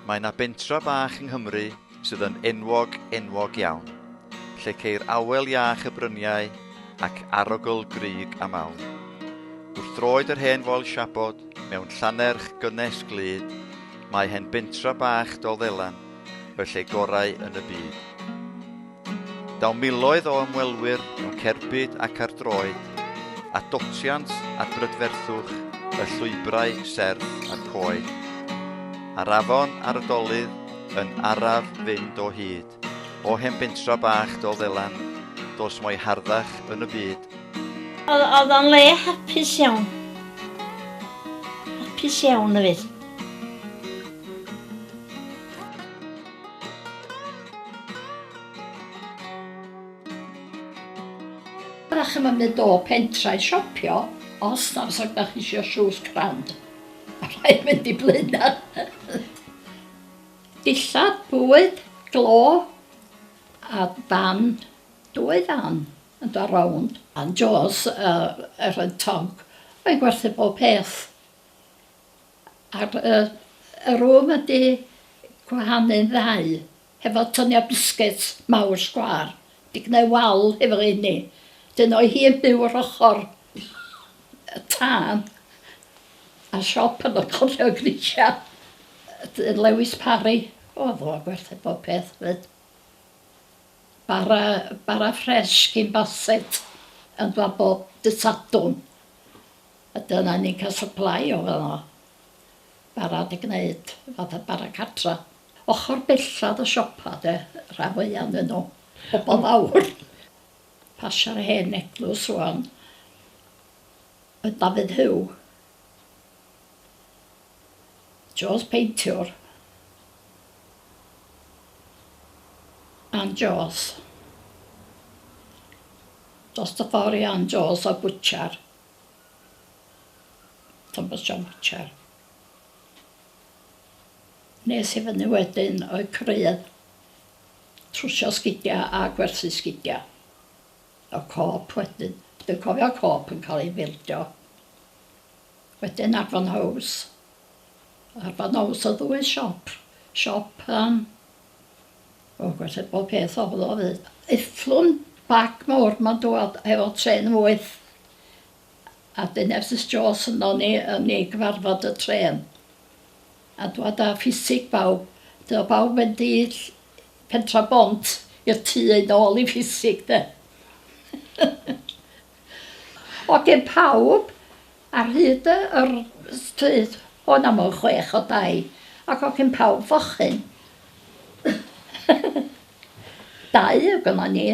Mae 'na bentra bach yng Nghymru sydd yn enwog, enwog iawn, lle ceir awel iach y bryniau ac arogl grug a mawn. Wrth droed yr hen foel siabod, mewn llannerch gynnes glyd, mae hen bentra bach Dolddelan, y lle gorau yn y byd. Daw miloedd o ymwelwyr yn cerbyd ac ar droed, a dotiant at brydferthwch y llwybrau serth a'r coed. A'r afon ar y dolydd yn araf fynd o hyd, o hen bentra bach dol ddelan, dos mo'i harddach yn y byd. Oedd o'n le hapus iawn. Hapus iawn, hefyd. Dach chi'm yn mynd o pentra i siopio os na os ydach chi isio shoes grand. A rhaid mynd i Blaenau. Dillad, bwyd, glo a fan, dwy fan yn dod rownd. A'n Joes a Erin Tonk yn gwerthu bob peth. Ar y y rwm ydi gwahanu'n ddau hefo tynia biscuit mawr sgwâr 'di gneu' wal hefo rheini 'dyn o'i hi yn byw yr ochor y tân a siop yn y cornel grisia yy yy Lewis Parry o'dd o gwerthu bob peth 'fyd. Bara bara ffres gin Bassett yn fan bob dy' Sadwrn. A dyna ni'n cael supply o fan'no. Barod i gneud fatha bara cartra. Ochr bellad y siopa de, rhan fwya o'nyn nhw. Pobol fawr. Pasio'r hen eglws ŵan. Oedd Dafydd Huw. Jones peintiwr. Ann Jones. Dost y ffor i Ann Jones oedd bwtsiar. Thomas John Pitcher. Nes i fyny wedyn o'u creuedd trwsio sgidia a gwerthu sgidia. O cop wedyn. Dwi'n cofio cop yn cael ei bildio. Wedyn Arfon House. Arfon House oedd ddwy siop. Siop yym O gwell bob peth o'dd o ddeud. Eithlwn bag mowr ma'n dwad efo trên wyth a dyn ers y stores yno ni yn i gyfarfod y trên a dwad a ffisig bawb dy o bawb mynd i ll- pentra bont i'r tŷ i nôl i ffisig de. Hogyn pawb Ar hyd y yr stryd hon am y chwech o dai ac o cyn pawb fochyn. Dau oedd gynnon ni.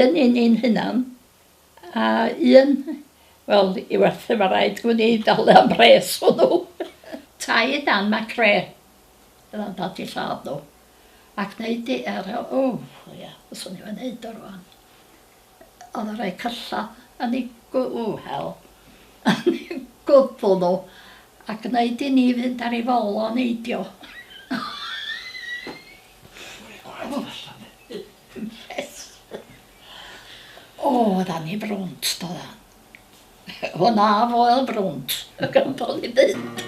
Un i ni'n hunan a un wel i werthu ma' raid gwn i dalu am mhres hwnnw. Tai dan macre o'dd o'n dad i lladd nhw ac neud i yy o ia fyswn i'm yn neud o rŵan. Oedd yn rhoi cylla yn ei gwhel yn ei gwddw nhw a gwneud i ni fynd ar ei fol o neidio. O, oedd anni frwnt, doedd o. Honna foel brwnt y gandol i fynd.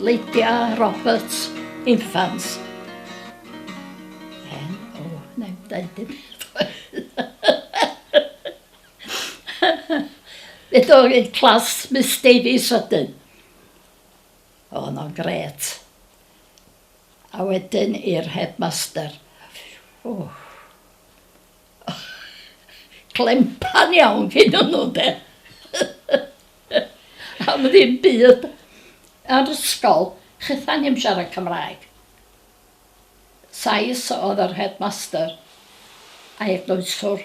Lydia Roberts Infants. Hen, o, neu dweud dim Fe dod i'r clas Miss Davies wedyn. O, no'n gret. A wedyn i'r headmaster. O, clempan iawn gennyn nhw de. Am ddim byd. Ar ysgol, chitha ni'm siarad Cymraeg. Sais oedd yr headmaster a eglwyswr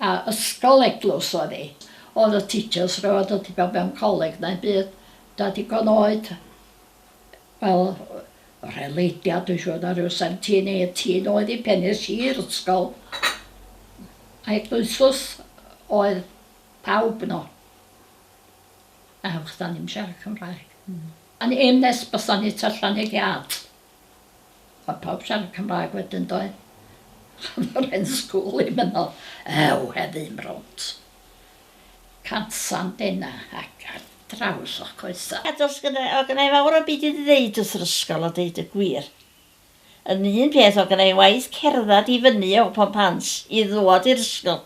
a ysgol eglwys oedd hi. Oedd y teachers rioed wedi bod mewn coleg na'm byd. Da digon oed fel rheleidiad dwi'n siŵr na ryw seventeen eighteen oed i pen es i i'r ysgol a eglwysws oedd pawb yno a achos 'da ni'm siarad Cymraeg. Hmm. A'n aim nes bysan ni tua Llaneliad o'dd pawb siarad Cymraeg wedyn doedd? O'dd yr hen school 'im yno. Ew heddiw 'im rownd. Cansan denna ac ar draws o'ch coesa. A does gynna i, o gynna i fawr o'm byd i ddeud wrth yr ysgol a deud y gwir. Yn un peth o gynna i waith cerddad i fyny o Pont Pant i ddwad i'r ysgol.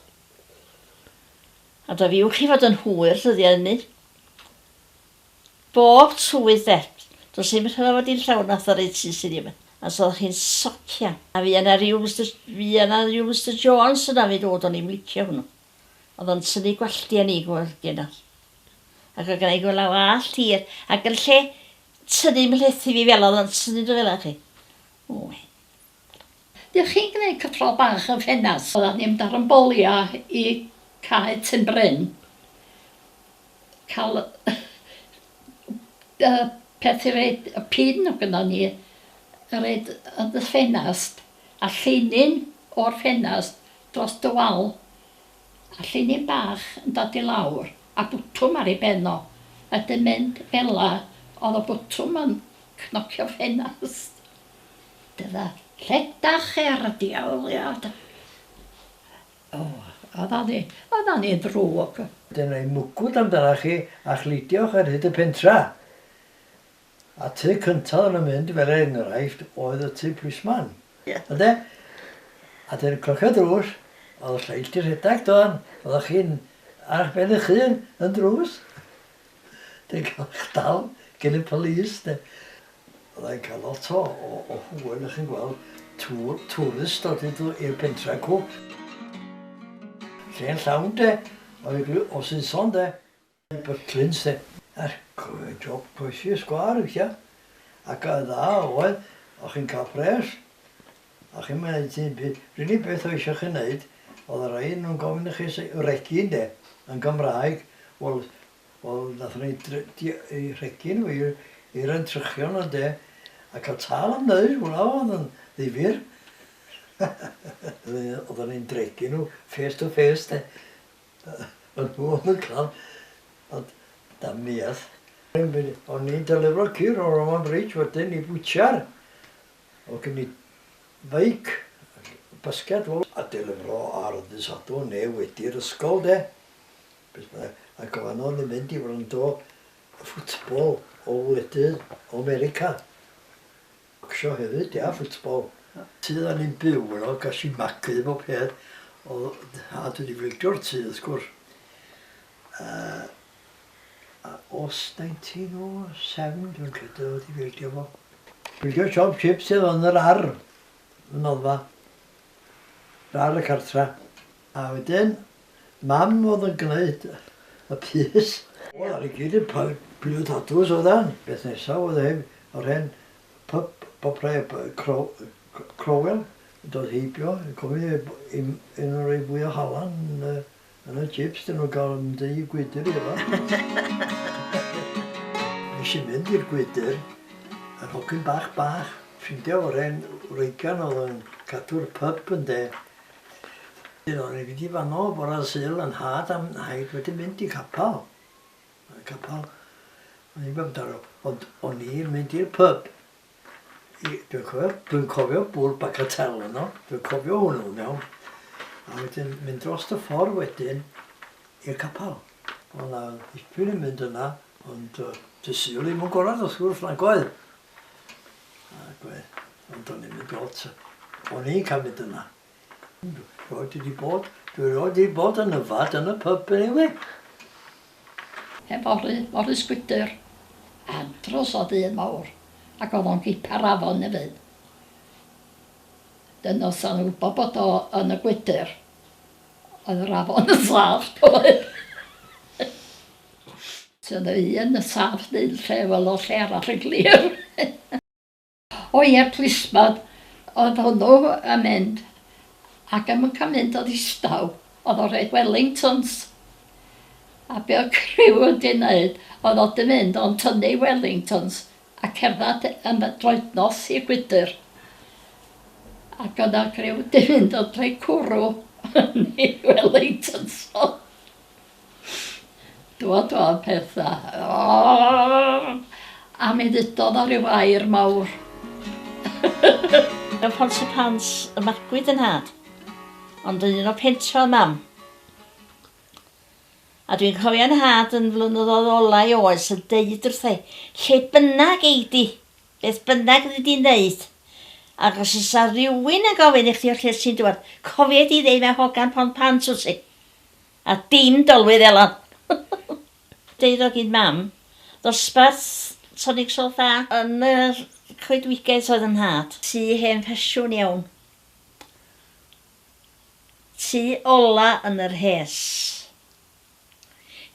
Ond a fiwch chi fod yn hwyr ddyddia ynny. Bob tywydd de. Does dim rhyfel fod hi'n llawn authority sydd ddim yn. A os oeddech chi'n socian. A fuodd na ryw Mister, fuodd na ryw Mister Jones yna fi ddod o'n i'm licio hwnnw. Oedd o'n tynnu gwalltiau ni gweld genod. Ac oedd gennai gwella wallt hir ac yn lle tynnu mhlethu fi fela oedd o'n tynnu nhw fela chi. Ww. Dych chi'n gneud cyffro bach yn ffenast. Oeddan ni'n mynd ar yn bolia i Cae Tyn Bryn cael yy peth i reid y pin o gynno ni a reid yn dy ffenast a llinyn o'r ffenast dros dy wal a llinyn bach yn dod i lawr a bwtwm ar ei ben o a wedyn mynd fela o'dd y bwtwm yn cnocio ffenast. Dyna. Rhedach er diawliad. O, oddan ni, oddan ni'n ddrwg. Dyna i mwgwd amdanach chi a chludiwch ar hyd y pentra. A tŷ cynta oddan nhw'n mynd, fel er enghraifft, oedd y tŷ plismon. Ie. Ynde? A dyna clocio'r drws, oedd y lleill 'di rhedeg, do'n? Oddach chi'n arch ben eich hun yn drws. Dwi'n cael eich dal gen y police de. Fydda i'n cael lot o o hwyl o'ch chi'n gweld tŵr twrist dod idw i'r pentre cw. Lle'n llawn de o eglu o Saeson de. Bytlins de. A'r job croesi y sgwâr weithia. Ac y dda oedd, o'ch chi'n cael pres. A chi'n wneud hyn pryd? Yr unig beth oedd eisiau chi wneud oedd yr rhain yn gofyn i chi regi ynde? Yn Gymraeg. Wel, wel wnaethon ni dri-... rhegi nhw i'r... i'r entrychion ynde? A cael tâl am wneud, hwnna oedd yn ddifyr. Oedden ni'n dregu nhw face to face de. A nhw oedd yn cael... ond damniaeth. O'n ni'n delifro ci rownd Roman Bridge wedyn i bwtsiar. O gymryd feic, basged lol. A delifro ar ddydd Sadwrn neu wedi'r ysgol de? Beth bynnag. A gofanodd i fynd i wrando y ffwtbol o wledydd o 'Merica. Bocsio hefyd ia, ffwtbol. Tŷ da ni'n byw yno, gas i magu efo peth, o'dd nhad wedi fricio'r tŷ wrth gwrs. Yy. A os daent ti no sefn dwi'n credu oedd wedi fildio fo. Bildio siop chips oedd yn yr ar y noddfa. Yr ar y cartra. A wedyn mam oedd yn gwneud y pys. Wel ar i gyd yn pilio tatws oeddan. Beth nesaf oedd e hef yr hen pyp bopre crowel yn dod heibio cofio un o'r rei fwya halan yn y Yn y chips dyn nhw'n cael yn mynd i gwydr i efo. Nes i mynd i'r gwydr, yr hogyn bach bach, ffrindia oren wreigan oedd yn cadw'r pyb ynde. Dyn o'n i fynd i fanno bore Sul yn nhad a'm nhaid wedi mynd i capal. Capal. O'n i'n mynd amdano, ond o'n i'n mynd i'r pyb. Dwi'n cofio, dwi'n cofio bwrdd Bagatelle yno, dwi'n cofio hwnnw yn iawn. A wedyn mynd dros y ffordd wedyn i'r capel. Oedd yna ddipyn yn mynd yna, ond uh, dy syl i'n gorau os gwrs na goedd. Ac oedd, ond o'n i'n mynd lot. O'n i'n cael mynd yna. Roi ti di bod, dwi roi di bod yn yfad yn y pyb eniwe. Hefory, lori sgwydr, am dros o ddydd mawr, ac oedd o'n gipa'r afon efyd. Dyn os o'n wybod bod o yn y gwydr, oedd yr afon yn saff doedd. Sydd y un yn saff neu'n lle fel o lle arall yn glir. O ie plismon oedd hwnnw yn mynd ac ddim yn cael mynd o ddistaw oedd o'n rhoid wellingtons a be oedd criw wedi wneud oedd o 'di mynd o'n tynnu wellingtons a cerdded yn y droed nos i gwydr ac oedd 'na griw 'di mynd yn rhoi cwrw yn ei wellingtons o! Dywedodd Peta, Ooh! a mi ddudodd o ryw air mawr. Mewn Pontypridd Pant y magwyd fy nhad, ond yn un o Pentre oedd Mam. A dwi'n cofio 'nhad yn flynyddoedd ola'i oes yn deud wrtha'i, Lle bynnag ei di, beth bynnag ydi di'n neud, ac os oes 'na rywun yn gofyn i chdi o lle ti'n dŵad, cofia'i di ddeud 'mae hogan Pont Pant wt ti. A dim dolwydd Elan! Deuddag un mam, ddosbarth Tonic Salt A. Yn yr coedwigaeth oedd 'y nhad. Tŷ hen ffasiwn iawn. Tŷ ola yn yr hes.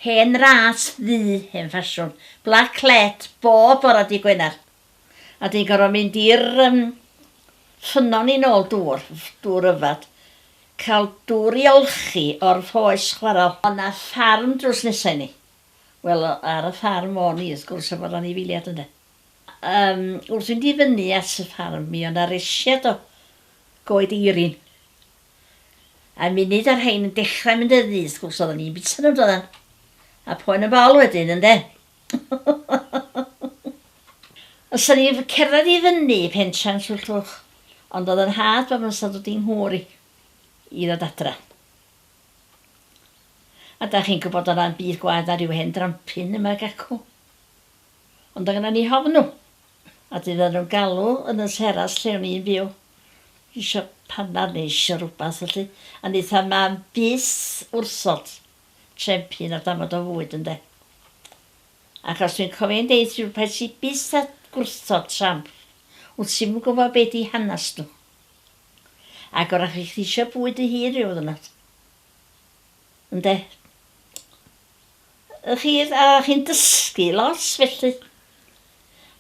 Hen ras ddu hen ffasiwn. Black led bob bora dy' Gwener. A dwi'n gorfod mynd i'r um, ffynnon i'n ôl dŵr, dŵr yfad. Cael dŵr i olchi o'r ffoes chwarel. Ond na ffarm drws nesau ni. Wel, ar y ffarm o ni, wrth gwrs, efo'r anifiliad ynde. Um, wrth fynd i fyny at y ffarm, mi o'na resiad o goed eirin. A munud ar rhain yn dechrau mynd ydi, wrth gwrs, oedden ni'n bita nhw, doedden. A poen yn fawr wedyn, ynde. Os o'n i'n cerdded i fyny i Pentra'n Llyllwch, ond oedd y nhad bob amser yn dod i'n nghwr i i ddod adra. A da chi'n gwybod oedd na'm byd gwaeth na rhyw hen drampin yma ag acw. Ond oedd gynnon ni hofnw, a dydd oedden nhw'n galw yn y teras lle o'n i'n byw, isio panad neu isio rhywbeth felly, a wnaeth a mam bys wrthod. trempyn a dafod o fwyd ynde? Achos dwi'n cofio hi'n deud rhywbeth sy byth a gwrthod tramp, wt ti'm yn gwybod be di hanas nhw. Ac wrach i chdi isio bwyd dy hun rhyw ddwrnod. Ynde? Ych chi, a chi'n dysgu lot felly.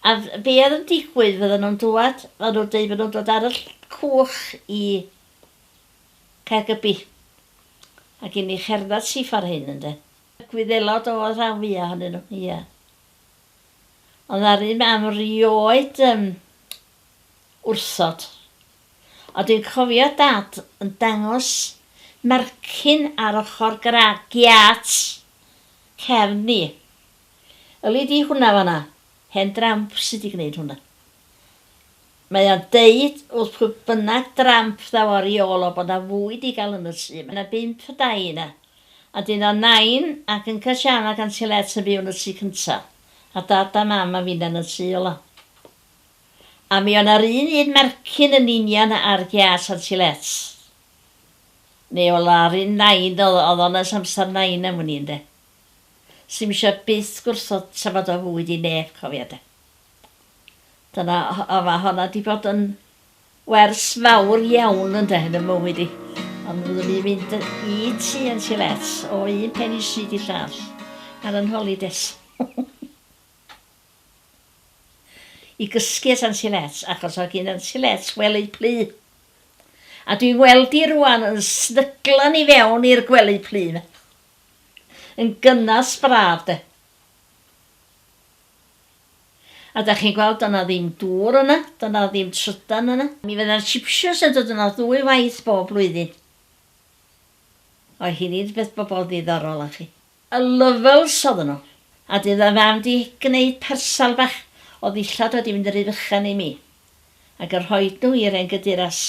A be oedd yn digwydd fydden nhw'n dŵad, fydden nhw'n deud fydden nhw'n dod ar y cwch i Caergybi, ac i ni cherdded syth ar hyn, ynde? Gwyddelod oedd rhan fwyaf ohonyn nhw, ie. Ond a'r un mam rioed yn wrthod. Ond dwi'n cofio Dad yn dangos mercyn ar ochr gra giât cefn ni. Yli di hwnna fan'na? Hen dramp sy' 'di gwneud hwnna. Mae o'n deud wrth pwy bynnag dramp ddaw ar ei ôl o bod 'na fwyd i gael yn y tŷ, mae 'na bump o dai yna, a dyn o Nain ac Uncle Siân ac Anti Let yn byw yn y tŷ cynta, a Dad a Mam a finna yn y tŷ ola. A mi o' 'na'r un un mercyn yn union a'r giât Anti Let. Neu o la yr un Nain o'dd o'dd o'n ers amsar Nain am wn i ynde. Sdim isio byth gwrthod tra bod o fwyd i neb cofia de. Dyna, o ma honna di bod yn wers mawr iawn ynde yn y mywyd i. Ond fyddwn i'n mynd i ti yn silet o un pen i stryd i llall ar yn holides. I gysgu at yn silet achos oedd gyn yn silet wely plu. A dwi'n weld di rwan yn snyglan i fewn i'r gwely plu yma. Yn gynnas braf de. A dach chi'n gweld, doedd 'na ddim dŵr yna, doedd 'na ddim trydan yna. Mi fydda'r Chipshoes yn dod yno ddwy waith bob blwyddyn. Oedd hi ddim beth bobl ddiddorol nachi? Y Lovels oedden nhw, a dydd oedd Mam 'di gneud parsel bach o ddillad wedi mynd yn rhy fychan i mi, ac yn rhoid nhw i'r hen gyduras.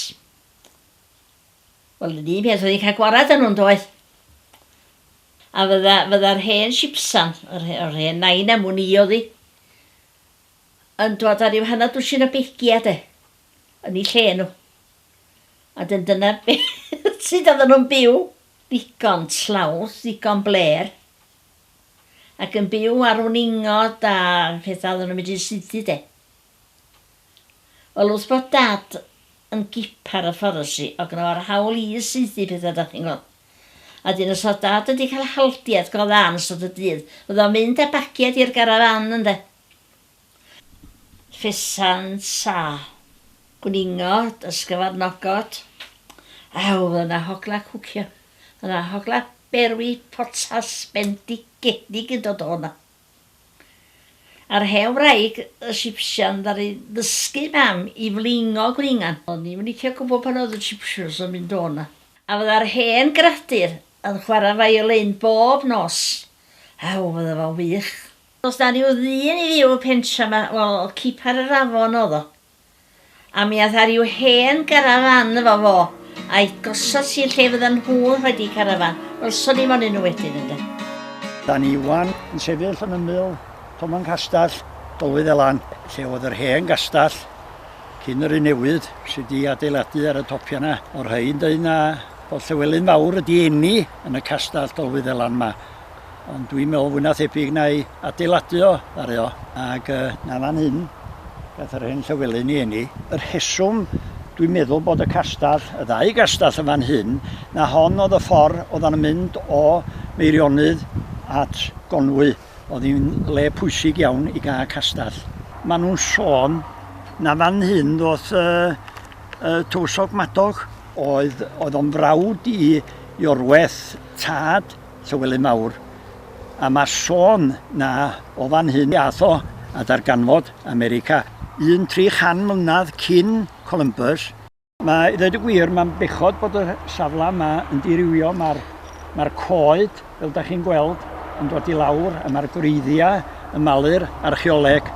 Wel yr un peth wedi cael gwarad â nhw yndoedd? A fydda, fydda'r hen sipsan, yr, yr hen nain am wn i oedd hi, yn dod ar ryw hanner dwsin o begiau de, yn ei lle nhw. A dyn dyna beth sydd oedden nhw'n byw, ddigon tlawth, ddigon bler, ac yn byw ar wn ingod a pethau oedden nhw'n mynd i'n sythu de. Wel wrth bod Dad yn gipar y fforestry o gno ar hawl i saethu pethau dach chi'n gweld. A dyn os oedd Dad wedi cael haldiad go dda yn ystod y dydd oedd o'n mynd â bagiad i'r garafan ynde? Ffesant a gwningot a sgyfarnogot. Ew oedd yna hogla cwcio. Oedd yna hogla berwi potas bendigedig yn dod o hwnna. Ar hen wraig y Sipsian ddaru ddysgu mam i flingo gwningan. O'n i'm yn licio gwbod pan oedd y Sipsians yn mynd o 'na. A fydda'r hen gradur yn chwarae fiolein bob nos. Aw, fydda fo'n wych. Does 'na ryw ddyn i fyw y pentra 'ma, wel, cipar yr afon o'dd o. A mi ath ar i'w hen garafan efo fo, a'i gosod hi lle fyddan nhw'n rhoid eu carafan. Welson ni monyn nhw wedyn, ynde. Da ni ŵan yn sefyll yn ymyl Toman Castell, Dolwydd Elan, lle oedd yr hen gastell cyn yr un newydd sydd wedi adeiladu ar y topiau yna. O'r rhain dweud na bod Llewelyn Fawr wedi eni yn y castell Dolwydd Elan yma ond dwi'n meddwl fwy na thebyg na i adeiladu o, ddare o, ac uh, na fan hyn, gath yr hen Llywelyn i eni. Yr heswm dwi'n meddwl bod y castell, y ddau gastell yn fan hyn, na hon oedd y ffordd oedd yn mynd o Meirionydd at Gonwy, oedd hi'n le pwysig iawn i gael castell. Maen nhw'n sôn na fan hyn ddoth y, y tywysog Madog. Oedd, oedd o'n frawd i Iorweth, tad Llywelyn Mawr, a mae sôn na o fan hyn i ath o a darganfod America un 300 mlynedd cyn Columbus. Mae, i ddeud y gwir, mae'n bechod bod y safle yma yn dirywio, mae'r mae'r coed, fel da chi'n gweld, yn dod i lawr a mae'r gwreiddiau yn malu'r archeoleg.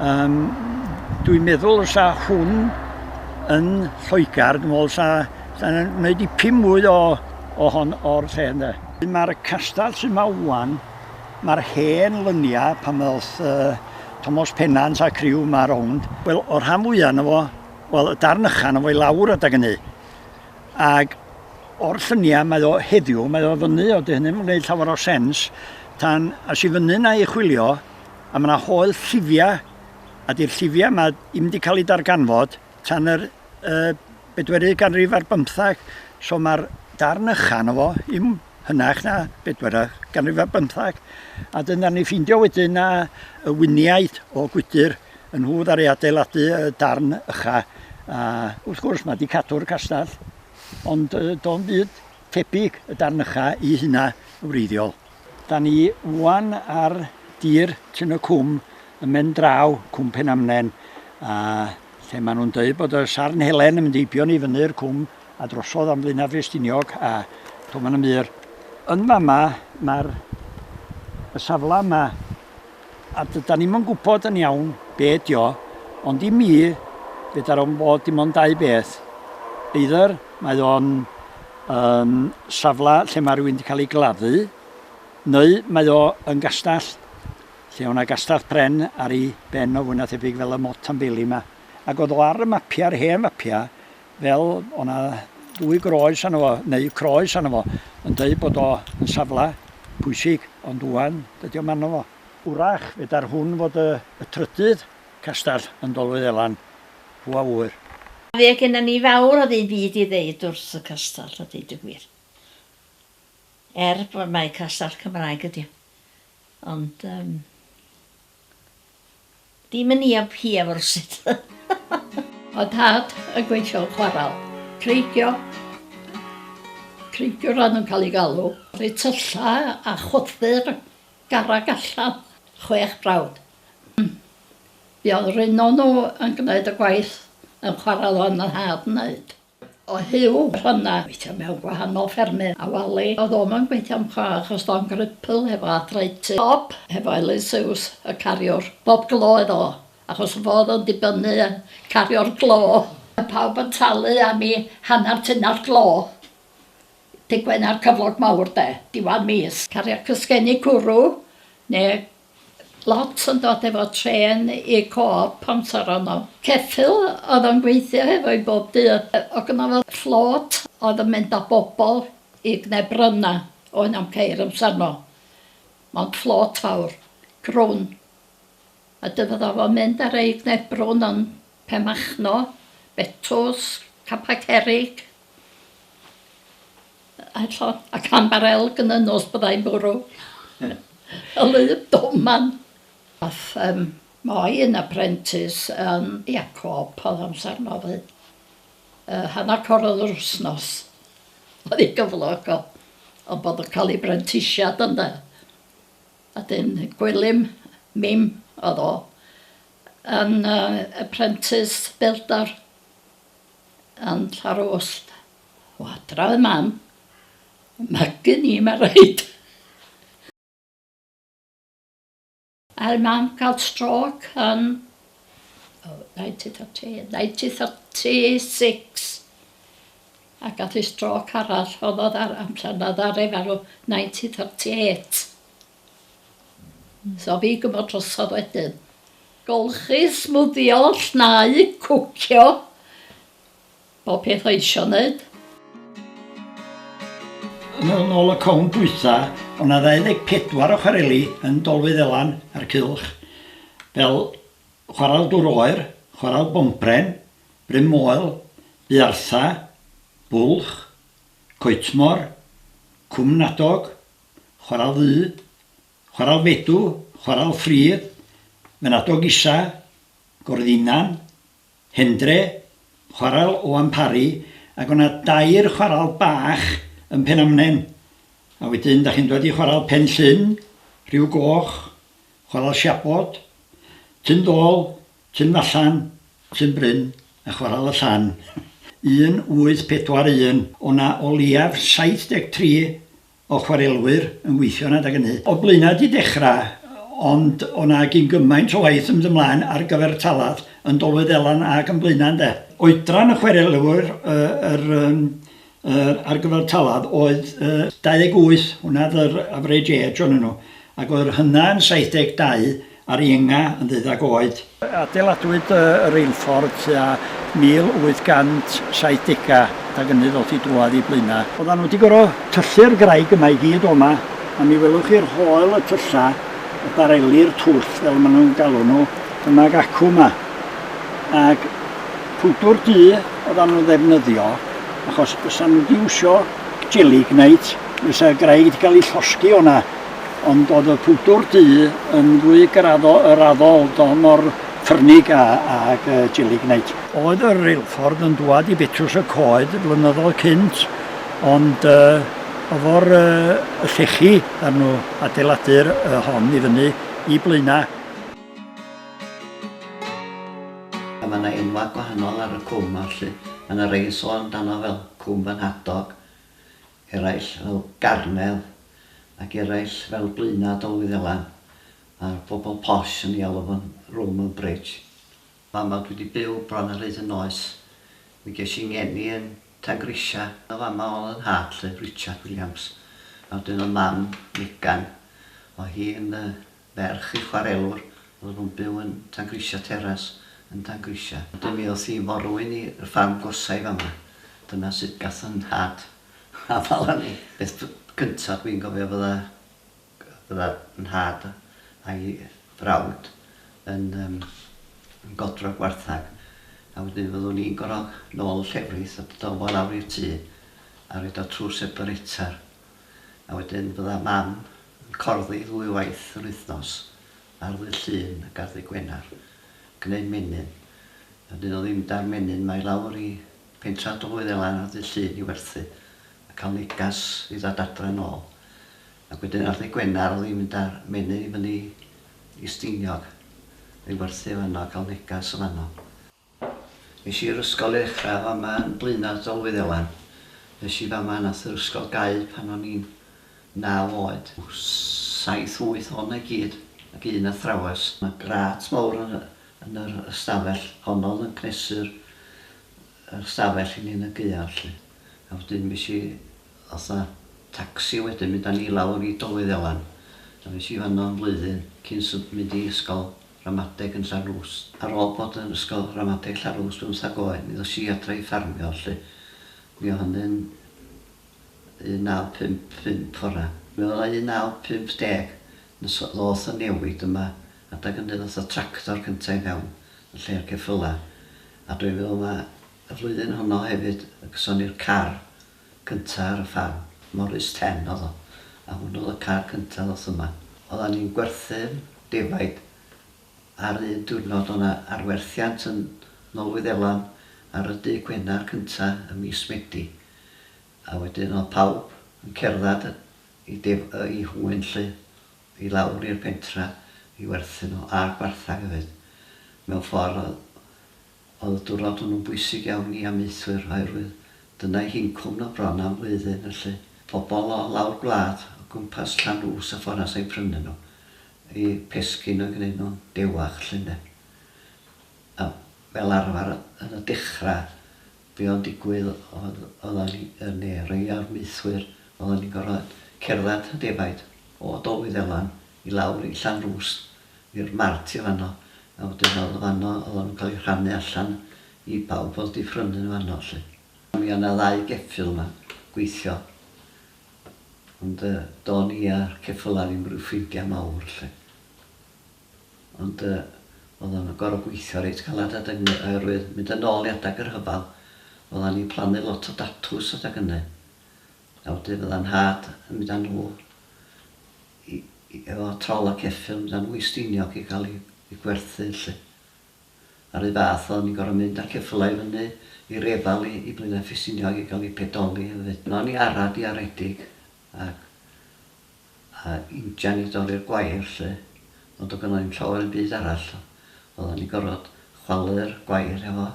Um, dwi'n meddwl sa hwn yn Lloegr, dwi'n meddwl sa Da ni'n gwneud dipyn mwy o, o hon o'r lle ynddo. Mae'r castell sy'n ma wan, mae'r hen lyniau pan oedd uh, Thomas Pennant a criw ma rownd. Wel, o'r rhan fwyaf yna fo, wel, y darn ychan yna fo i lawr adag hynny. Ac o'r lluniau mae o heddiw, mae o fyny, o dy hynny'n gwneud llawer o sens, tan as i fyny na i chwilio, a mae yna hoel llifiau, a di'r llifiau yma ddim wedi cael eu darganfod, tan yr y bedwerydd ganrif ar bymthag, so mae'r darn ycha na fo, im hynach na bedwerydd ganrif ar bymthag, a dyna ni ffeindio wedyn na y winiaid o gwydr yn nhw ddari adeiladu y darn ycha, a wrth gwrs mae wedi cadw'r castell, ond do'n byd tebyg y darn ycha i hynna wreiddiol. Da ni ŵan ar dir Tyn y Cwm yn mynd draw Cwm Penamnen a lle maen nhw'n dweud bod y Sarn Helen yn mynd eibio ni fyny'r cwm a drosodd am Flaenaf Ffestiniog a to maen nhw'n mynd yn fama mae'r y safle yma A dydan ni'm yn gwybod yn iawn be ydi o, ond i mi, fedar o'n bod dim ond dau beth. Either mae o'n um, safle lle mae rhywun wedi cael ei gladdu, neu mae o yn gastell lle o'na gastell pren ar ei ben o fwy na thebyg fel y mot am beli yma. Ac oedd o ar y mapiau, ar hen fapiau, fel o' 'na ddwy groes arno fo, neu croes arno fo, yn deud bod o yn safle pwysig, ond ŵan dydi o'm arno fo. Wrach fedar hwn fod y y trydydd castell yn Dolfeuelan, pw a ŵyr. Fe genna ni fawr o ddim byd i ddeud wrth y castell a deud y gwir. Er bod mai castell Cymraeg ydi o. Ond yym. Dim yn ia pia fo rwsut. O Dad y gweithiol chwaral. Cleidio. Cleidio ran yn cael ei galw. Rhoi tylla a choddi'r garreg allan. Chwech brawd. Hm. Be oedd yr un o nhw yn gwneud y gwaith yn chwaral oedd fy nhad yn wneud? O hil rhana gweithio mewn gwahanol ffermydd a wali a o'dd o'm yn gweithio'n dda achos do'n gripl hefo arthritis. Bob hefo elusiws y cariwr. Bob glo oedd o achos y fo oedd o'n dibynnu yn cario'r glo. Oedd pawb yn talu am i hannar tunnall glo Dydd Gwener cyflog mawr de, diwedd mis. Cario cysgeni cwrw ne Lot yn dod efo trên i Coop Pontar ono. Ceffyl oedd o'n gweithio hefo i bob dydd. Oedd gynno fo fflôt oedd yn mynd â bobl i g'ne bryna oedd na'm ceir amsar no. Mond fflôt fawr. Crwn. A dy fydda fo'n mynd â rei g'ne brwn yn Penmachno, Betws, Capel Cerrig. Eto, a chan ba'r elg yn y nos byddai'n bwrw y wlyb doman. Ath yym Moy yn aprentis yn ia cop o'dd amsar 'no 'fyd. Yy hannar corodd yr wsnos o'dd 'i gyflog o ond bod o'n ca'l 'i brentisiad ynde? A 'dyn Gwilym Mim o'dd o yn yy aprentis bildar yn Llanrwst. O adra oedd mam. Magu ni ma raid. Aeth mam ga'l strôc yn oh ninety thirty ninety thirty six a gath i strôc arall o'dd o dda- amsar na ddaru farw ninety thirty eight. So fi gymo drosodd wedyn. Golchi smwddio llnau cwcio Bob peth oedd isio neud. Yn ol nol y cownt dwytha, o' 'na 24 o chwareli yn Dolfeuddhelan a'r Cylch, fel Chwarel Dŵr Oer, Chwarel Bonpren, Bryn Moel, Buartha, Bwlch, Coetmor, Cwm Nadog, Chwarel Ddu, Chwarel Fedw, Chwarel Ffridd, Fynadog Isa, Gorddinnan, Hendre, chwarel o amharu ag o' 'na dair chwarel bach yn Penamnen a wedyn 'da chi'n dod i chwarel Pen Llŷn, Rhiw Goch, chwarel Siabod, Tyn Dôl, Tyn Fallan, Tyn Bryn a chwarel y Llan. 1841 o' 'na o leiaf 73 o chwarelwyr yn gweithio'n adeg ynny. O Blaenau 'di dechra ond o' 'na gyn gymaint o waith yn mynd ymlaen ar gyfer Taladd yn Dolwyd Elan ag yn Blaenau ynde. Oedran y chwarelwyr yr yym yr ar gyfer Taladd oedd yy 28 hwnna oedd yr average age o'nyn nhw ac oedd yr hynna yn 72 Ar Ienga yn ddeuddag oed. Adeiladwyd y reilffordd tua 1870 ac ynny ddoth i drwad i Blaena. Oeddan nhw wedi gorfod tyllu'r graig yma i gyd o'ma a mi welwch chi'r hoel y tylla, y bareli'r twll fel ma nhw'n galw nhw, dyma'r acw yma. Ac pwdwr du oeddan nhw'n ddefnyddio achos bysa nhw wedi iwsio jeli gneud fysa'r graig wedi cael ei llosgi o'na. Ond oedd y pwdwr du yn fwy graddol, y raddol, don o'r ffyrnig a, ag y gelignite. Oedd y reilffordd yn dwad i Betws y Coed flynyddoedd cynt, ond y, ofor y, y llechi ar nhw adeiladu'r y hon i fyny i Blaenau. A mae yna enwau gwahanol ar y cwm a ballu. Mae yna rei yn sôn amdano fel Cwm Fy Nhadog, eraill fel Garnedd ac eraill fel Blaenau Dolwyddelan a'r bobl posh yn ei alw fo'n Roman Bridge. Fama dwi 'di byw bron ar hyd 'y noes. Mi ges i 'ngeni yn Tangrisia a fama o'dd 'y nhad 'lly, Richard Williams, a wedyn o'dd mam, Megan, o' hi yn y Ferch i chwarelwr oedd yn byw yn Tangrisia Terrace yn Tangrisia. Dywedodd hi, Morwyn i y ffarm gorsau fama. Dyna sut gath fy nhad afael â mi. Peth cyntaf dwi'n cofio fydda fydda fy nhad a'i frawd yn yym yn godro gwarthag a wedyn fyddwn ni'n gorod nôl y llefrith a dod â fo lawr i'r tŷ a roid o trw'r separetar. a wedyn bydda Mam yn corddi ddwy waith yr wythnos ar ddydd Llun ac ar ddydd Gwener, gneud menyn. A 'dyn o ddim 'da'r menyn 'ma i lawr i Pentra Dwy Ddelan ar ddydd Llun i werthu a cael negas i ddod adre yn ôl. Ac wedyn ar ddydd Gwener o ddim mynd a'r menyn i fyny i Steiniog i werthu fanno a cael negas o fanno. Nes i yr ysgol ei ddechra efo mam yn Blaenau Dolwyn Elan. Nes i fama nath yr ysgol gau pan o'n i'n naw oed. Saith wyth ohona i gyd ac un athrawes. Mae grât mawr yn y yn yr ystafell honno oedd yn cnesu'r yr ystafell i ni yn y gaeaf 'lly. A wedyn fues i fatha tacsi wedyn mynd â ni lawr i Dolwyn Elan. A fues i fanno am flwyddyn cyn sym- mynd i ysgol. Ramadeg yn Llanrwst. Ar ôl bod yn ysgol ramadeg Llanrwst bymthag oed mi ddos i adra i ffarmio 'lly. Mi o hynny'n 1955 fora. Mi oedd o 1950 nes ddoth y newid yma adag ynny ddoth y tractor cynta' i fewn yn lle'r ceffyla a dwi'n meddwl ma' y flwyddyn honno hefyd y gyson ni'r car cynta ar y ffarm, Morris Ten odd o, a hwn odd y car cynta ddoth yma. Oddan ni'n gwerthu'r defaid ar un diwrnod o' 'na arwerthiant yn nol Wyddelan ar y dydd Gwenar cynta ym mis Medi a wedyn odd pawb yn cerddad i def- yy i Hwyn 'lly i lawr i'r pentra i werthu nw a gwarthag efyd. Mewn ffor odd Oedd y diwrnod hwnnw'n bwysig iawn i amaethwyr oherwydd dyna eu hincwm nhw bron am flwyddyn felly pobl o lawr gwlad o gwmpas Llanrwst a Ffornas oedd yn prynu nhw, eu pesgyn oedd yn gwneud nhw'n dewach 'lly ynde. A fel arfer yn y dechrau be oedd yn digwydd oedd oeddan ni yn ne rei o'r maethwyr oeddan ni'n gorfod cerdded y defaid o Dolwyddelan i lawr i Llanrwst i'r mart i fanno a wedyn o'dd o fanno o'dd o'n ca'l 'i rhannu allan i bawb o'dd 'di phrynu yn fanno 'lly. Mi o' 'na ddau geffyl 'ma gweithio ond yy do'n i a'r ceffyla ddim ryw ffrindia mawr 'lly ond yy o'dd o'n goro gweithio reit galad adag 'ny oerwydd mynd yn ôl i adag y rhyfal oddan ni'n plannu lot o datws adag ynny a wedyn fydda nhad yn mynd â nhw i efo trol a ceffyls a mwy Steiniog i gael i gwerthu 'lly. A r'un fath o'n ni'n gor'o' mynd â ceffylau i fyny i Refal i i Blaenau Ffestiniog i gael i pedoli efyd. O'n i ara diaredig ac a injan i dorri'r gwair 'lly ond do'dd gynno' i'm llawer o'm byd arall. Oddan ni'n gor'od chwalu'r gwair hefo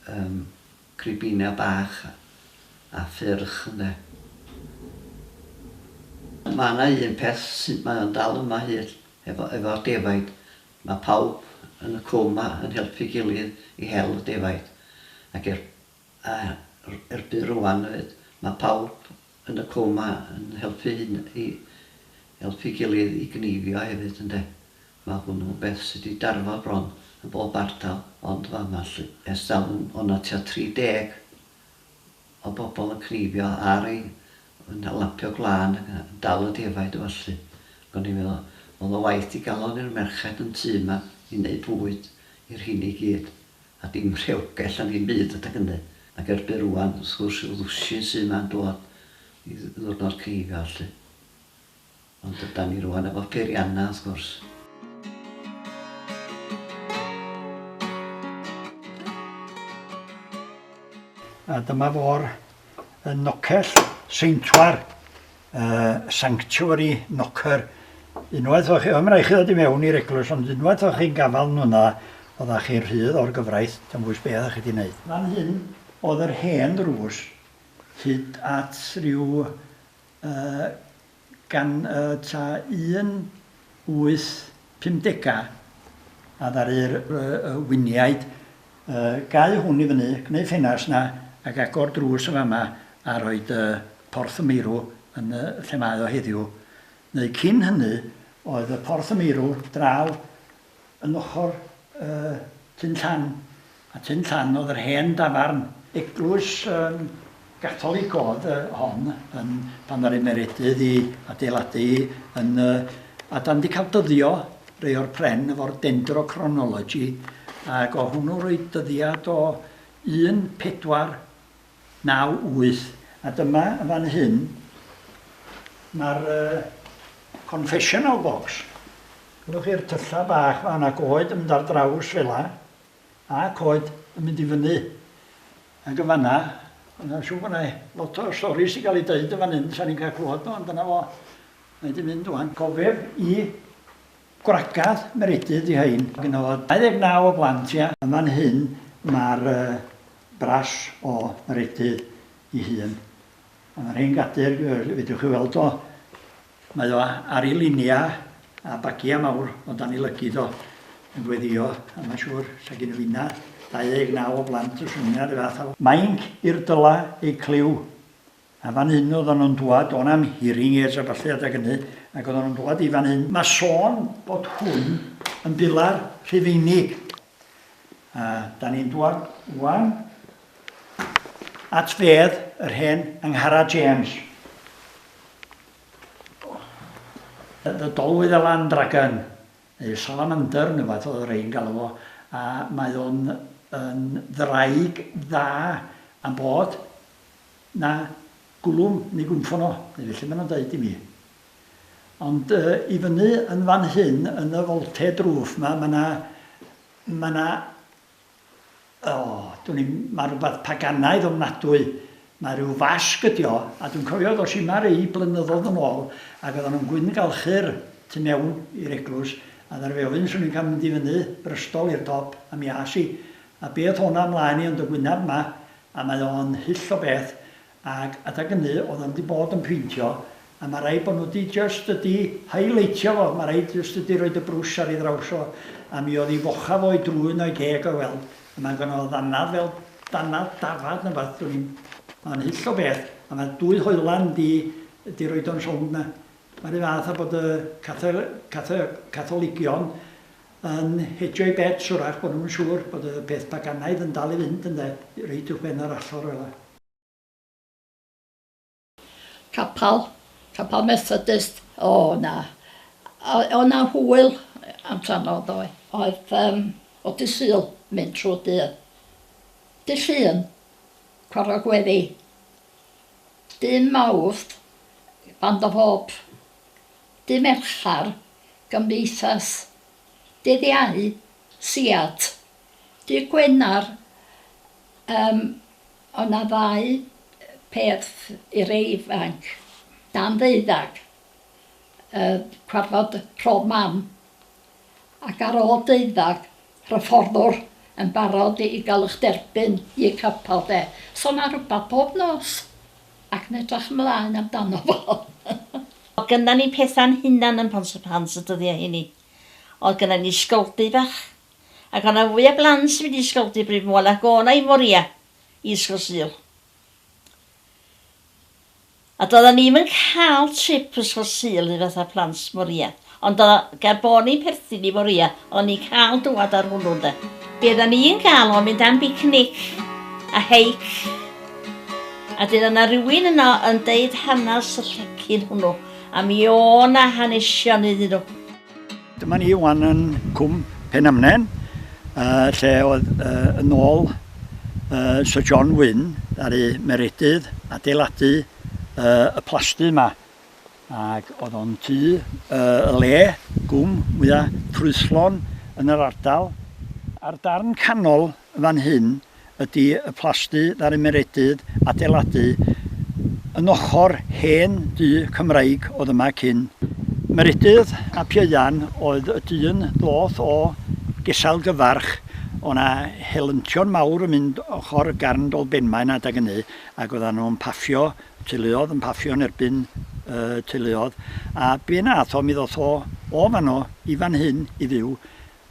yym cribina bach a ffyrch ynde. Ma' 'na un peth sydd mae o'n dal yma hyd efo efo'r defaid ma' pawb yn y cwm 'ma yn helpu'i gilydd i hel y defaid ac er A erbyn rŵan hefyd, mae pawb yn y cwm a yn helpu hyn i helpu'i gilydd i gneifio hefyd ynde? Mae hwnnw'n beth sy' 'di darfod bron yn bob ardal ond fa'ma 'lly. Ers talwm o' 'na tua 30 o bobl yn cneifio ar ei yn lapio gwlân ac yn dal y defaid a ballu. Ac o'n i'n meddwl, o'dd o waeth digalon i'r merched yn tŷ 'ma i neud bwyd i'r rhiny gyd. A dim rhewgell am ddim byd adeg hynny. Ac erbyn rŵan, wrth gwrs, y ddwsin sy' 'ma'n dod i Ddiwrnod Creigiau 'lly. Ond ydan ni rŵan efo peiriannau, wrth gwrs. A dyma fo'r yn Nocell Seintwar. uh, sanctuary knocker. Unwaith o'ch, ym rhaid chi ddod i mewn i'r eglwys, ond unwaith o'ch chi'n gafael nhw yna, oeddech chi'n rhydd o'r gyfraith, dim bwys be oeddech chi wedi gwneud. Fan hyn oedd yr hen ddrws, hyd at rhyw uh, gan uh, ta 18 50 a ddaru'r winiaid gau hwn i fyny, gwneu ffenast 'na ac agor drws yn fama a rhoid Porth y Meirw yn lle mae o heddiw, neu cyn hynny oedd y Porth y Meirw draw yn ochr Tyn Llan. A tun llan oedd yr hen dafarn. Eglwys yn Gatholig oedd y hon yn pan ddaru Meredydd i adeiladu hi yn y a dan di cael dyddio rei o'r pren efo'r dendrochronology ag o hwnnw roedd dyddiad o 1498. A dyma yn fan hyn mae'r confessional box. Gwelwch chi'r tyllau bach fan ac oed yn mynd ar draws fela. A coed yn mynd i fyny. Ag yn fan'na, mae'n siŵr bod 'na lot o storis 'di cael ei deud yn fan hyn, sa'n ni'n cael clywed nhw, ond dyna fo. Mae 'di mynd ŵan. Cofeb i gwragedd Meredydd 'di rhein. Gynno fo 29 o blant, ia. Yn fan hyn ma'r bras o Meredydd 'i hun. A ma' rhein gadir, fedrwch chi weld o Mae o ar ei luniau a bagiau mawr o dan ei lygid o yn gweddïo a mae'n siŵr 'sa gynno fi yna 29 o blant o Llundain a'r un fath â fo. Mainc i'r dyla ei clyw. A fan hyn oeddan nhw'n dwad, do' na'm hearing aids a ballu adag ynny, ac oeddan nhw'n dwad i fan hyn. Mae sôn bod hwn yn bilar Rhufeinig. A da ni'n dŵad wan at fedd yr hen Anghara James. Y ddolwydd y Land Dragon, neu Salamander, neu fath oedd rei'n galw fo, a mae o'n yn ddraig dda am bod na gwlwm neu gwymffon o, neu felly maen nhw'n dweud i mi. Ond i fyny yn fan hyn yn y foltê drwf 'ma, ma' 'na... ma' 'na... o, dwn i'm, ma' rhywbeth paganaidd ofnadwy. Mae rhyw fasg ydi o, a dwi'n cofio ddois yma rei blynyddoedd yn ôl ac oeddan nhw'n gwyngalchu'r tu mewn i'r eglwys a ddaru fi ofyn 'swn i'n cael mynd i fyny brystol i'r top a mi as i. A be oedd hwn â mlaen i yn dy wyneb 'ma? A mae o'n hyll o beth Ag adag ynny oedd o ddim di bod yn peintio a ma raid bod nhw di jyst ydi highlightio fo, ma raid jyst ydi roid y brwsh ar ei ddraws o a mi oedd ei fochaf o'i drwyn o'i geg o'i weld a ma gynno fo ddannedd fel dannedd dafad ne wbath dwn i'm, ma o'n hyll o beth a ma dwy hoelan di di roid o'n rhownd na. Ma ry fath a bod y catho catho catholigion yn hedgio'u bets wrach bod nhw'm yn siŵr bod y peth paganaidd yn dal i fynd ynde, reit uwchben yr allor fela. Capal, capal Methodist, o na, oedd 'na hwyl amdano ddoe. Oedd yym o dy Sul mynd trw'r dydd. Dy Llun, cwarog gweddi. Dy Mawrth, band o fôp. Dy Merchar, gymdeithas. Dydd Iau, siât. Dydd Gwener, Yym, o' 'na ddau peth i'r ifanc, dan ddeuddag, yy cwarfod rhodd mam, ac ar ôl deuddag, hyfforddwr yn barod i ga'l 'ych derbyn i'ch capal 'de. So 'na rwbath pob nos, ac yn edrach ymlaen amdano fo. O'dd gynna ni petha'n hunan yn Pont-y-pans y dyddia hynny. O'dd gynna ni sgoldy fach. ac o' 'na fwy o blant wedi ysgogi Bryn Môn ac o' 'na i Moria i Ysgol Sul. A doeddan ni'm yn cael trip Ysgol Sul i fatha plant Moria, ond o, gan bo' ni'n perthyn i Moria, o'n ni'n cael dŵad ar hwnnw ynde. Be' oddan ni'n gael o' mynd am bicnic a heic, a 'dyn o' 'na rywun yno yn deud hanas y llecyn hwnnw, a mi o' 'na hanesion iddyn nhw. Dyma ni wan yn Cwm Penamnen, uh, lle oedd uh, yn ôl uh, Sir John Wynn ddaru Meredydd adeiladu uh, y plasty yma. Ac oedd o'n tu uh, y le, gwm mwyaf trwyslon yn yr ardal. A'r darn canol fan hyn, ydy y plasty ddaru Meredydd adeiladu yn ochr hen dŷ Cymraeg oedd yma cyn. Meredydd ap Ieuan oedd y dyn ddoth o Gesail Gyfarch, o' 'na helyntion mawr yn mynd ochr Garn Dolbenmaen adag ynny ac oeddan nhw'n paffio teuluodd yn paffio yn erbyn y teuluodd a be nath o mi ddoth o o fanno i fan hyn i fyw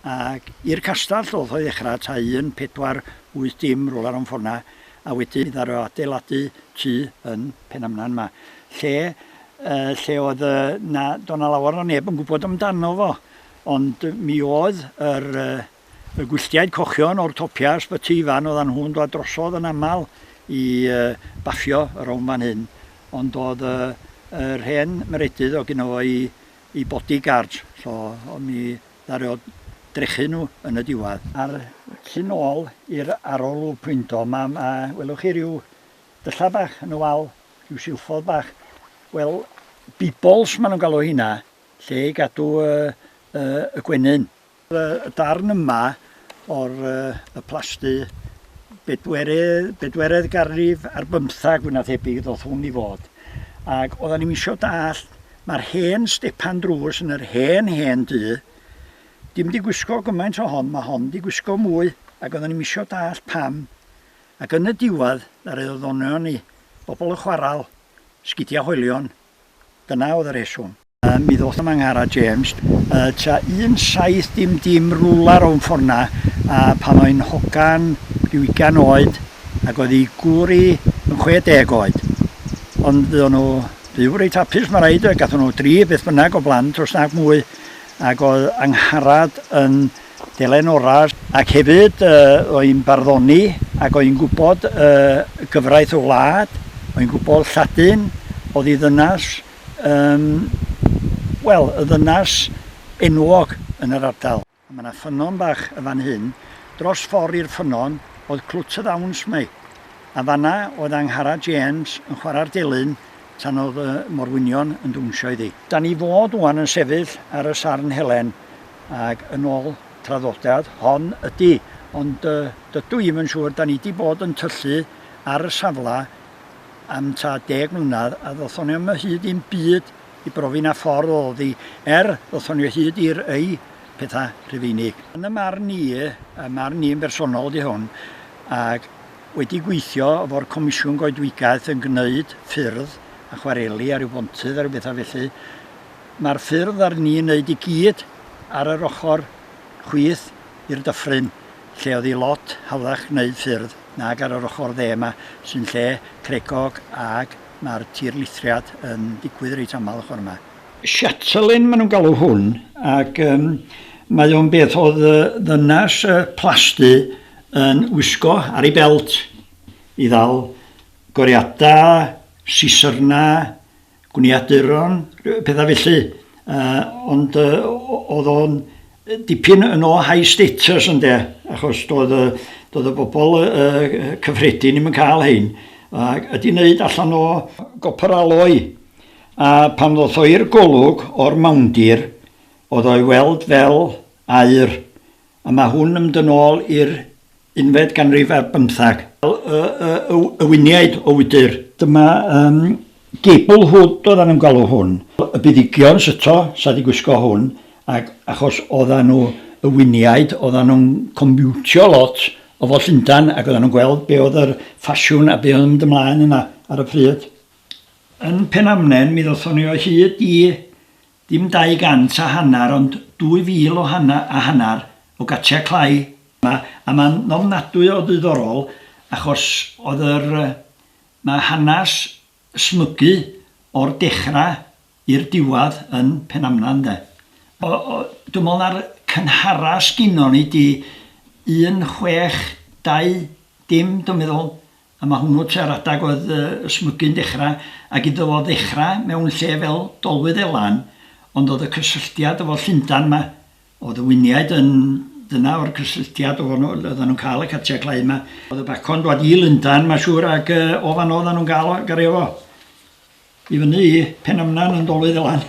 Ac i'r castell o'dd o i ddechra, ta un, pedwar, wyth dim, rwla rown ffor'na, a wedyn mi ddaru o adeiladu tŷ yn Penamnan 'ma, lle yy lle o'dd yy 'na do' 'na lawer o neb yn gwbod amdano fo, ond mi oedd yr yy y gwylltiaid cochion o'r topia Ysbyty Ifan o'dda nhw'n dwad drosodd yn amal i yy baffio y rown fan hyn, ond o'dd yy yr hen maredydd o' gynno fo 'i i bodyguards, so o'n i ddaru o drechu nhw yn y diwedd. A'r tu nôl i'r arolwg pwyndo, mae, ma, welwch chi rhyw dylla bach yn y wal, rhyw silffodd bach. Wel, bibbles maen nhw'n galw hynna, lle i gadw y, y, y gwenyn. Y darn yma o'r y plasty bedwerydd, bedwerydd garrif ar bymthag fwy na thebyg ddoth hwn i fod. Ac oedden ni'n misio dallt, mae'r hen stepan drws yn yr hen hen du, dim di gwisgo gymaint o hon, mae hon di gwisgo mwy, ac oedden ni'n misio dallt pam. Ac yn y diwedd, yr oedd ddonion ni, bobl yn chwaral, sgidia hoelion, dyna oedd y rheswm. Mi ddoth yma Ngara James tua un saith dim dim rwla rown ffor'na a pan oi'n hogan ryw ugain oed ac oedd ei gŵr i yn chwe deg oed. Ond fuon nhw fyw reit hapus ma raid, gathon nhw dri beth bynnag o blant os nag mwy ac oedd Angharad yn delen ora ac hefyd oi'n barddoni ac oi'n gwybod gyfraith y wlad, oi'n gwybod Lladin, oedd ei ddynas, Yym, wel, y ddynas enwog yn yr ardal. Mae 'na ffynnon bach yn fan hyn. Dros ffor' i'r ffynnon oedd Clwt y Ddawns, mae. A fan'na oedd Angharad James yn chwarae'r delyn tan oedd y morwynion yn dwnsio iddi. Dan ni fod ŵan yn sefyll ar y Sarn Helen ac yn ôl traddodiad, hon ydi, ond dydw i'm yn siŵr, dan ni 'di bod yn tyllu ar y safle am ta deg mlynedd a ddothon ni am y hyd i'n byd i brofi na ffordd o ddi er ddothon ni o hyd i'r ei pethau rhufeinig. Yn y marn ni, y marn ni'n bersonol di hwn, ac wedi gweithio efo'r Comisiwn Goedwigaeth yn gwneud ffyrdd a chwareli ar yw bontydd ar yw bethau felly, mae'r ffyrdd ar ni'n wneud i gyd ar yr ochr chwith i'r dyffryn lle o'dd 'i lot hawddach gneud ffyrdd nag ar yr ochor dde 'ma sy'n lle cregog ag ma'r tirlithriad yn digwydd reit amal ochor 'ma. Chatelaine ma' nhw'n galw hwn ac yym mae o'n beth o'dd yy ddynas yy plasty yn wisgo ar ei belt i ddal goriada, sisyrna, gwniaduron, pethau felly, uh, ond uh, oedd o'n dipyn yn o high status ynde, achos doedd, doedd y bobl uh, cyffredin ddim yn cael hyn, ac ydy wneud allan o gopr aloi. A pan ddoth o i'r golwg o'r mawndir, oedd o'i weld fel air, a mae hwn yn mynd yn ôl i'r unfed ganrif ar bymthag. Y, y, y, y winiaid o wydr. Dyma um, gable hood oeddan nhw'n galw hwn. Y buddigion syto, sa di gwisgo hwn, ac achos oeddan nhw y winiaid, oeddan nhw'n comiwtio lot o fod Llundan ac oeddan nhw'n gweld be oedd yr ffasiwn a be oedd yn mynd ymlaen yna ar y pryd. Yn Penamnen mi ddothon ni o hyd i Dim dau gant a hanner ond dwy fil o hanna a hanner o gatiau clai. Ma, a ma'n ofnadwy o ddiddorol achos oedd yr, ma hanas smygu o'r dechra i'r diwadd yn Penamna ynde. O, o, dwi me'wl na'r cynhara sgynnon ni di un chwech dau dim dwi meddwl A mae hwnnw tua'r adeg oedd y smygu'n dechrau, ac iddo fo ddechrau mewn lle fel Dolwydd Elan, ond oedd y cysylltiad efo Llundain 'ma, o Ddyfyniaid yn, dyna o'r cysylltiad o fan'no oeddan nhw'n cael y catia clai 'ma. Oedd y bacon dwad i Lundain ma siŵr ac o fan'no oeddan nhw'n gael o, gario fo. I fyny i Penymnan yn dolydd y lan.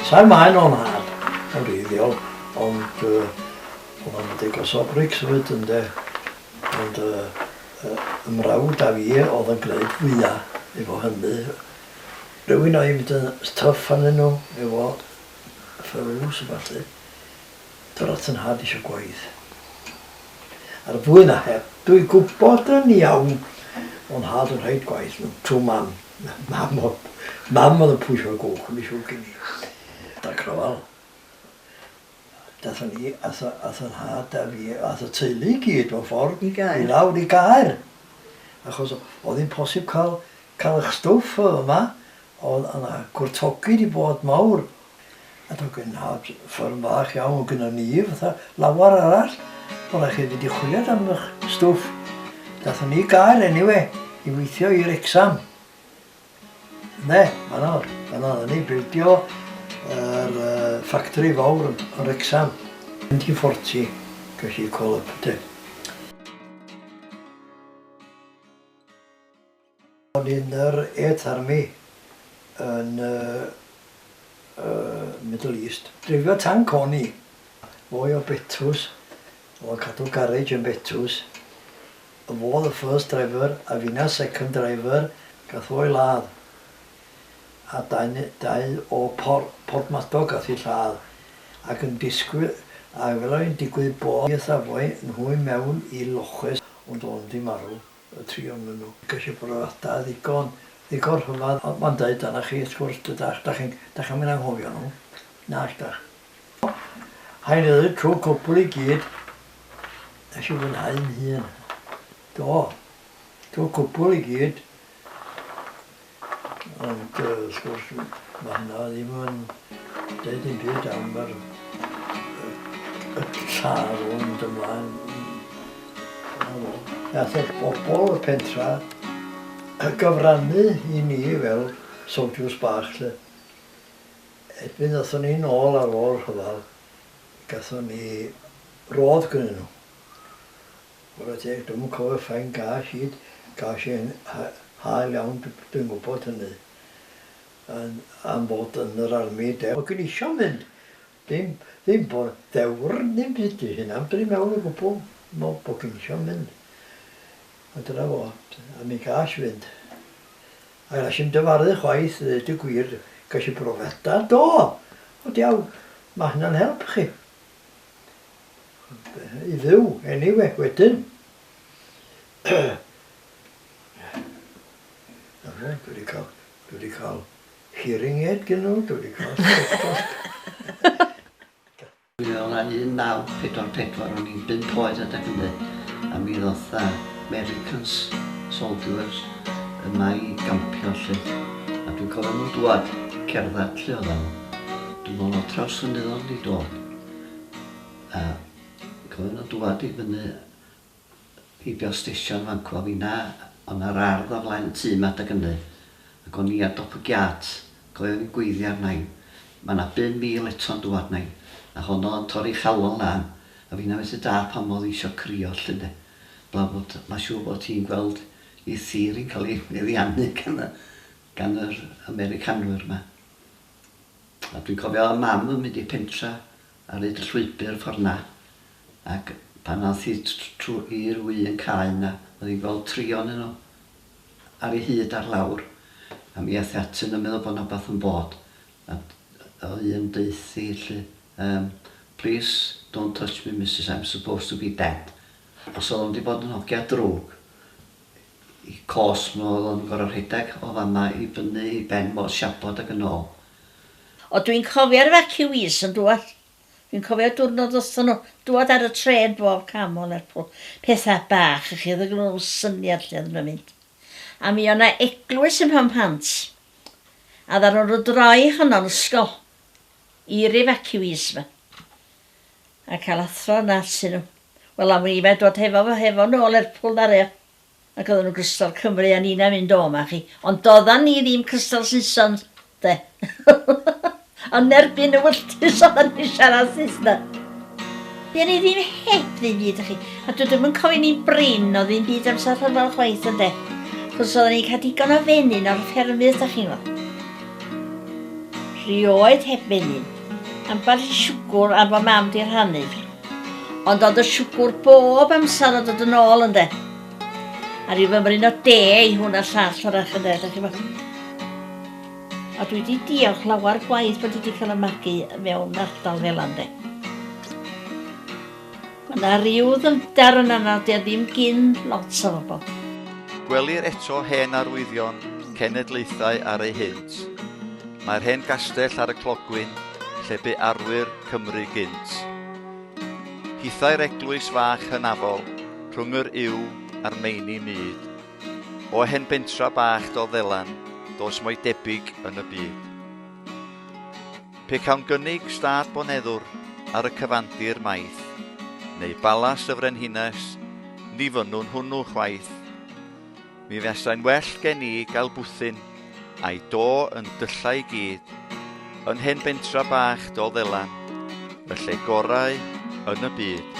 Sa'r maen o'n hard yn reiddiol, ond uh, o'n deg o sobrics oed yn de. Ond uh, uh, ymrawd a fi oedd yn gwneud fwyaf efo hynny. Rwy'n o'i mynd yn tough anyn nhw efo ffyrws a falle. dros yn nhad isio gwaith. Ar fwy na heb, dwi gwybod yn iawn o'n nhad yn rhaid gwaith nhw, trwy mam. Mam oedd, mam oedd yn pwysio'r gwch, yn mi siwr gen i. Da crofal. Dathon ni, ath, ath yn nhad a fi, ath y teulu i gyd, mewn ffordd, i, gair. i lawr i gair. Achos oedd hi'n posib cael, cael eich stwff yma, Oedd yna gwrthogid i fod mawr at y gwennhad, fferm fach iawn gynnon ni, fatha lawer arall, bo' raid chi fynd i chwiliad am ych stwff. Gathon ni gael eniwe i weithio i Wrecsam. Ynde, fan'na o'dd, fan'na oddan ni, bildio yr yy ffactori fowr yn Wrecsam. Mynd i Forti, gesh i call up 'de. Ond yn yr e-Tharmi yn y Middle East. Dreifio tanc o'n i. Mwy o betws, o cadw garej yn betws. Fo oedd y first driver a finna second driver, gath o'i ladd. A dau o Porthmadog gath eu lladd. Ac yn disgwyl, a wela i'n digwydd bo' fi a safoi nhw i mewn i loches ond o'n di marw. y tri ohonyn nhw. Ceisio bod yr ata ddigon, ddigon rhyfadd, ond mae'n deud arna chi, wrth gwrs, dydach, dach chi'n, dach chi'n mynd anghofio nhw, nag dach. Hain ydy trwy cwpl i gyd, nes i fwynhau'n hun. Do, trwy cwpl i gyd. Ond wrth gwrs mae hynna ddim yn deud dim byd am yr y tân o'n mynd ymlaen. Nath y bobl y pentra gyfrannu i ni fel soldiers bach 'lly. Erbyn ddathon ni nôl ar ôl rhyfel gathon ni rôdd gynnyn nhw. Ware teg, dwi'm yn cofio faint gas i, gas i'n hael iawn, dwi'n gwybod hynny, am fod yn yr army de. O'n i'n isio mynd, ddim, ddim bod ddewr, ddim byd i hynna, fedrwn i meddwl o gwbl, meddwl bod o'n isio mynd. A dyna fo, a mi gas i fynd. A gas i'm dyfaru chwaith, ddeud y gwir, gas i brofiadau, do! Wel diawl, mae hynna'n help chi. i fyw anyway wedyn. Dwi wedi cael, dwi wedi cael hearing aid gen nhw, dwi wedi cael stethoscope. Mi oedd o'n 1944, o'n i'n bimp oed adeg hynny, a mi ddoth Americans, soldiers, yma i gampio lle. A dwi'n cofio nhw'n dŵad, cerdded lle oedden nhw. Dwi'n meddwl na trawsfynydd oedd wedi dod a cofio nhw'n dŵad i fyny heibio stesion fan cw a finna oedd na'r ardd o flaen y tŷ ma adeg ynny ac o'n i ar dop y giât cofio o'n i'n gweiddi arnain ma na bum mil eto'n dŵad nain a honno yn torri chalon lan a finna methu dall pam oedd hi isio crio lly ynde blaf bod ma siŵr bod ti'n gweld ei thir hi'n cael ei meddiannu gan y gan yr Americanwyr ma. A dwi'n cofio mam yn mynd i'r pentra ar hyd y llwybr ffordd 'na ac pan ath hi trwy'r un cae 'na o'dd hi'n gweld trion yno ar ei hyd ar lawr a mi ath hi atyn nhw meddwl bod 'na wbath yn bod a o'dd un deuth hi 'lly um, please don't touch me Misus I'm supposed to be dead os o'dd o'n mynd i fod yn hogia drwg y cosb nhw oedd yn gorfod rhedeg o fama i fyny i ben mor siabod ag yn ôl. O dwi'n cofio'r evacuees yn dŵad. Dwi'n cofio dwrnod wrthon nhw dŵad ar y trên bob cam o Lerpwl. Petha bach i chi o'dd yn g'neu nhw syniad lle oddan nhw'n mynd. A mi o' na eglwys ym Mhenmhant. A ddaru nhw droi honno'n ysgol i'r evacuees ma. A cael athro yn artyn nhw. Wel am wn i mae dod hefo fo hefo nhw o Lerpwl na re. Ac oedden nhw'n crystal Cymru a nina mynd o ma chi. Ond doeddan ni ddim crystal Saeson de. Ond nerbyn y wylltys oeddan ni'n siarad Saesneg. Dyn ni ddim heb ddim byd chi. A dwi ddim yn cofio ni'n brin o ddim byd amser rhyfel chwaith ynde. Chos oedden ni'n cael digon o fenyn o'r ffermydd da chi'n gwybod. Rioed heb fenyn. Ambell i siwgwr am fy mam 'di rhannu. Ond o'dd y siwgwr bob amser yn dod yn ôl ynde? A ryw fymryn o de i hwn a llall arall ynde, dach chi'bo'. A dwi 'di diolch lawer gwaith bod 'di 'di ca'l y magu mewn ardal fela ynde? Mae 'na ryw ddyfnder yna na 'di o ddim gin lot o bobl. Gwelir eto hen arwyddion cenedlaethau ar eu hynt. Mae'r hen gastell ar y clogwyn lle bu arwyr Cymru gynt. Hithau'r eglwys fach hynafol rhwng yr yw a'r meini myd. O hen bentra bach do ddelan dos mo'i debyg yn y byd. Pe cawn gynnig stad boneddwr ar y cyfandir maith, neu balas y frenhines, ni fynnwn hwnnw chwaith. Mi fesai'n well gen i gael bwthyn, a'i do yn dylla i gyd, yn hen bentra bach dol ddelan, y lle gorau yn y byd.